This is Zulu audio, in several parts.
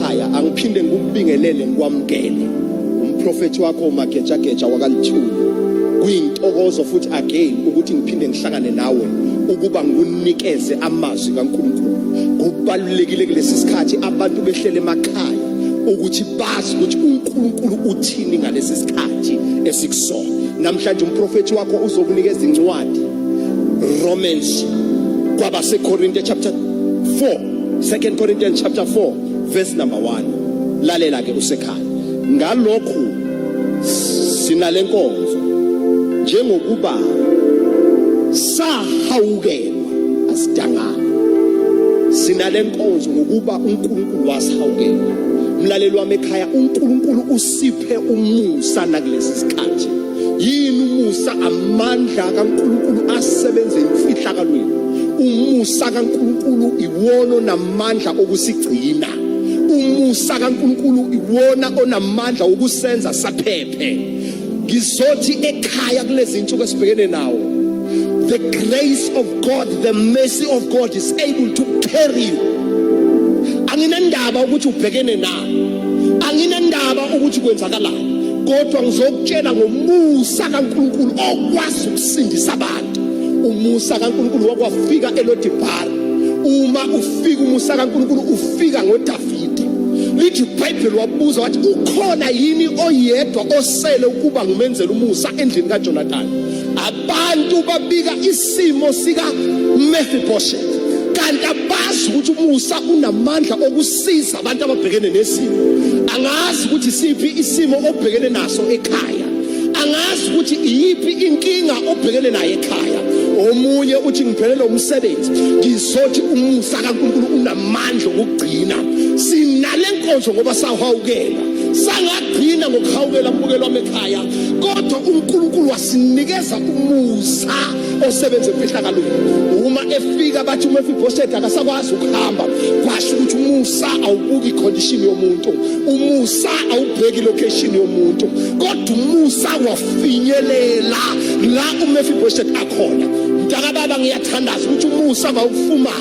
ekhaya angiphinde ngikubingelele ngikwamukele umprofethi wakho umagejageja wakalithuli kuyintokozo futhi again ukuthi ngiphinde ngihlangane nawe ukuba ngikunikeze amazwi kaNkulunkulu kubalulekile kulesi sikhathi abantu behlele emakhaya ukuthi bazi ukuthi uNkulunkulu uthini ngalesi sikhathi esikusona namhlanje umprofethi wakho uzokunikeza incwadi Romans kwabaseKorinte chapter 4 2 Corinthians chapter 4 verse number 1 lalela ke usekhaya ngalokhu sinalenkonzo njengokuba sahawukelwa asidangana sinalenkonzo ngokuba uNkulunkulu wasihawukela mlaleli wami ekhaya uNkulunkulu usiphe umusa nakulesi sikhathi yini umusa amandla kaNkulunkulu asebenze imfihlakalweni umusa kaNkulunkulu iwona namandla okusigcina umusa kaNkulunkulu iwona onamandla okusenza saphephe ngizothi ekhaya kulezi nsuku esibhekene nawo the grace of God the mercy of God is able to carry you anginandaba ukuthi ubhekene na anginendaba ukuthi kwenzakalani kodwa ngizokutshela ngomusa kaNkulunkulu okwazi ukusindisa abantu umusa kaNkulunkulu wakwafika elodibhara uma ufika umusa kaNkulunkulu ufika ngoDavide lithi iBhayibheli wabuza wathi ukhona yini oyedwa osele ukuba ngumenzela umusa endlini kaJonathan abantu babika isimo sika Mephibosheth kanti abazi ukuthi umusa unamandla okus siza abantu ababhekene nesimo angazi ukuthi siphi isimo obhekene naso ekhaya angazi ukuthi iyiphi inkinga obhekene nayo ekhaya omunye uthi ngiphelele umsebenzi ngizothi umusa kaNkulunkulu unamandla okugcina sinale nkonzo ngoba sahawukela sangagcina ngokuhawukela mbukelo wamekhaya kodwa uNkulunkulu wasinikeza umusa osebenza emfihlakalweni uma efika bathi umefibhosedi akasakwazi ukuhamba kwasho ukuthi umusa awubuki ikhondishini yomuntu umusa awubheki ilokheshini yomuntu kodwa umusa wafinyelela la umefibhosedi akhona mntakababa ngiyathandaza ukuthi umusa mawufumane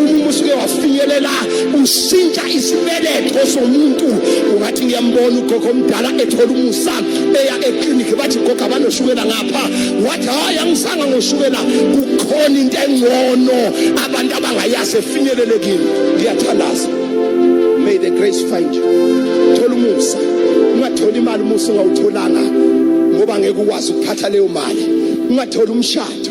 uma usuke wafinyelela ushintsha isibeletho somuntu ungathi ngiyambona ugogo omdala ethola umusa eya eklinikhi bathi gogo abanoshukela ngapha wathi hhayi angisanga ngoshukela kukhona into engcono abantu abangayazi efinyelelekile ngiyathandaza may the grace find you thola umusa ungatholi imali umusa ungawutholanga ngoba ngeke ukwazi ukuphatha leyo mali ungatholi umshado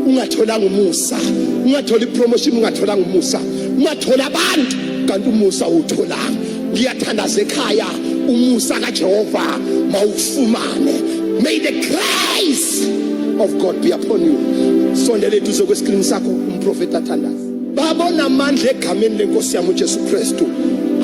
ungatholanga umusa ungathola ipromotion ungatholanga umusa ungathola abantu kanti umusa utholanga ngiyathandaza ekhaya umusa kaJehova mawufumane may the grace of God be upon you sondela eduze kwescreen sakho umprofeti athandaza babona amandla egameni lenkosi yami uJesu Kristu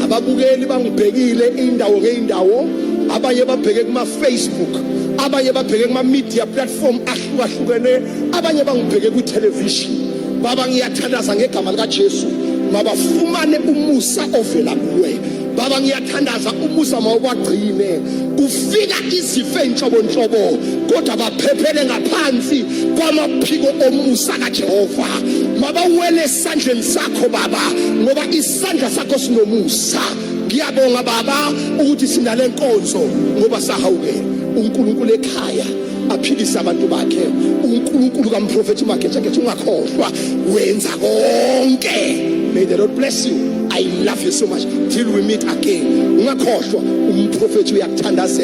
ababukeli bangibhekile indawo ngeindawo abanye babheke kuma Facebook abanye babheke kuma media platform ahlukahlukene abanye bangibheke kwithelevishini baba ngiyathandaza ngegama likajesu mabafumane umusa ovela kuwe baba ngiyathandaza umusa mawubagcine kufika izifo enhlobonhlobo kodwa baphephele ngaphansi kwamaphiko omusa kajehova mabawele esandleni sakho baba ngoba isandla sakho sinomusa ngiyabonga baba ukuthi sinale nkonzo ngoba sahawukela unkulunkulu ekhaya aphilise abantu bakhe uNkulunkulu kamprofethi uMagejageja ungakhohlwa wenza konke may the Lord bless you i love you so much till we meet again ungakhohlwa umprofethi uyakuthandazela